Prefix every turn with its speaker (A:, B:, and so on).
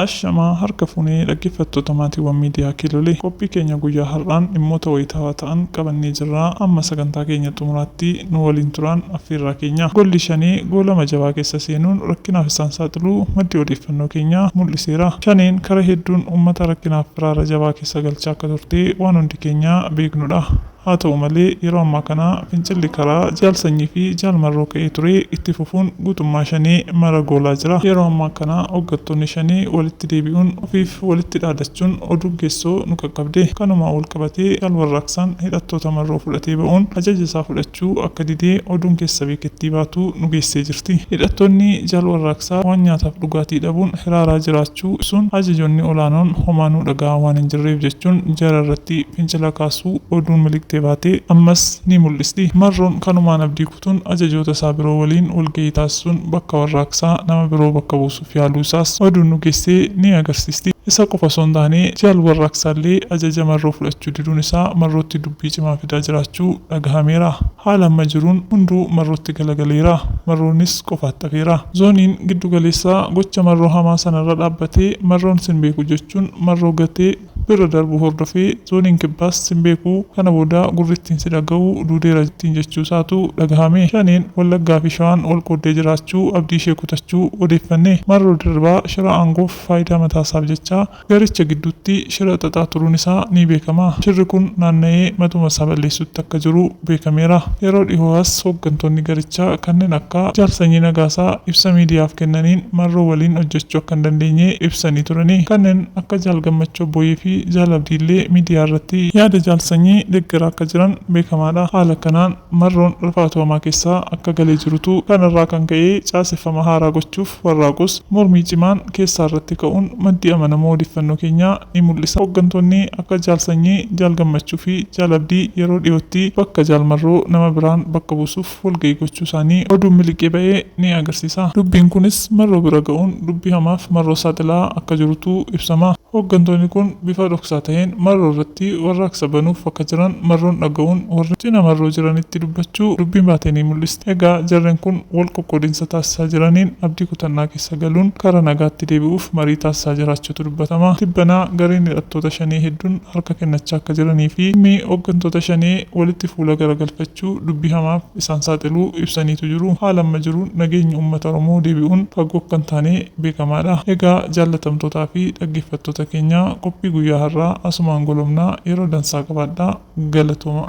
A: Ashamaa harka fuunee dhaggeeffattoota maatiiwwan miidiyaa Kiilolee qophii keenya guyyaa har'aan dhimmoota wayitaawaa ta'an qabannee jirra amma sagantaa keenya xumuraatti nu waliin turaan affeerraa keenya golli shanee goolama jabaa keessa seenuun rakkinaaf isaan saaxiluu maddi odeeffannoo keenya mul'iseera shaneen kara hedduun uummata rakkinaaf firaara jabaa keessa galchaa akka turte waan hundi keenya beeknudha. Haa ta'u malee, yeroo ammaa kana fincilli karaa Jaal Sanyii fi Jaal Marroo ka'ee ture itti fufuun guutummaa Shanee mara goolaa jira. Yeroo ammaa kana hoggantoonni Shanee walitti deebi'uun ofiif walitti dhaadachuun oduun keessoo nu qaqqabde. Kanumaan walqabatee Jaal Warraaqsaan hidhattoota Marroo fudhatee ba'uun ajaja isaa fudhachuu akka dide oduun keessa beekettii baatu nu geessee jirti. Hidhattoonni Jaal Warraaqsaa waan nyaataaf dhugaatii dhabuun hiraaraa jiraachuu. jechuu ibsuun, ajajoonni olaanoon homaa nu dhaga'aa waan hin jirreef jechuun jara irratti fincila kaasuu oduun miliqxee baate ammas ni mul'isti. Marroon kanumaan abdii kutuun ajajoota isaa biroo waliin walgahii taasisuun bakka warraaqsaa nama biroo bakka buusuuf yaaluu isaas oduun nu geesse ni agarsiisti. Isa qofa osoo hin taane Jaal Warraaqsaallee ajaja Marroo fudhachuu diduun isaa Marrootti dubbii cimaa fidaa jiraachuu dhagahameera. Haala amma jiruun hunduu Marrootti galagaleera. Marroonis qofaatti hafeera. Zooniin giddu galeessaa gocha Marroo hamaa sana irra dhaabbatee Marroon sin beeku jechuun Marroo gatee birra darbuu hordofee Zooniin Kibbaas sin beeku kana booda gurri ittiin si dhagahu duudeera ittiin jechuu isaatu dhagahame. Shaneen Wallaggaa fi Shawaan wal qooddee jiraachuu abdii ishee kutachuu odeeffanne. Marroo Dirribaa shira aangoof faayidaa mataa isaaf jecha Garicha gidduutti shira xaxaa turuun isaa ni beekama. Shirri kun naanna'ee matuma isaa balleessuutti akka jiru beekameera. Yeroo dhihoo as hooggantoonni garichaa kanneen akka Jaal Sanyii Nagaasaa ibsa miidiyaaf kennaniin Marroo waliin hojjechuu akka hin dandeenye ibsanii turani. Kanneen akka Jaal Gammachuu Abbooyee fi Jaal Abdiillee miidiyaa irratti yaada Jaal Sanyii deggeraa akka jiran beekamaadha. Haala kanaan Marroon rifaatuu hamaa keessa akka galee jirutu kanarraa kan ka'ee caaseffama haaraa gochuuf, Warraaqus mormii cimaan keessaa irratti ka'uun maddii amanamoo odeeffannoo keenyaa ni mul'isa. Hoggantoonni akka Jaal Sanyii, Jaal Gammachuu fi Jaal Abdii yeroo dhiyootti bakka Jaal Marroo nama biraan bakka buusuuf walga'ii gochuu isaanii oduun miliqee ba'e ni agarsiisa. Dubbiin kunis Marroo bira ga'uun dubbii hamaaf Marroo saaxilaa akka jirutu ibsama. Hoggantoonni kun bifa dhoksaa ta'een Marroo irratti warraaqsa banuuf akka jiran Marroon dhaga'uun warri cina Marroo jiranitti dubbachuu dubbiin baate ni mul'isa. Egaa jarreen kun wal qoqqoodinsa taasisaa jiraniin abdii kutannaa keessa galuun karaa nagaatti deebi'uuf marii taasisaa jiraachuutu dubbatama. Tibbana gareen hidhattoota Shanee hedduun harka kennachaa akka jiranii fi dhimmi hoggantoota Shanee walitti fuula garagalfachuu dubbii hamaaf isaan saaxiluu ibsaniitu jiru. Haala amma jiruun nageenyi uummata Oromoo deebi'uun fagoo akka hin taane beekamaa dha. Egaa jaallatamtootaa fi dhaggeeffattoota keenya qophii guyyaa har'aa asumaan golobna. Yeroo dansaa qabaadhaa! Galatoomaa.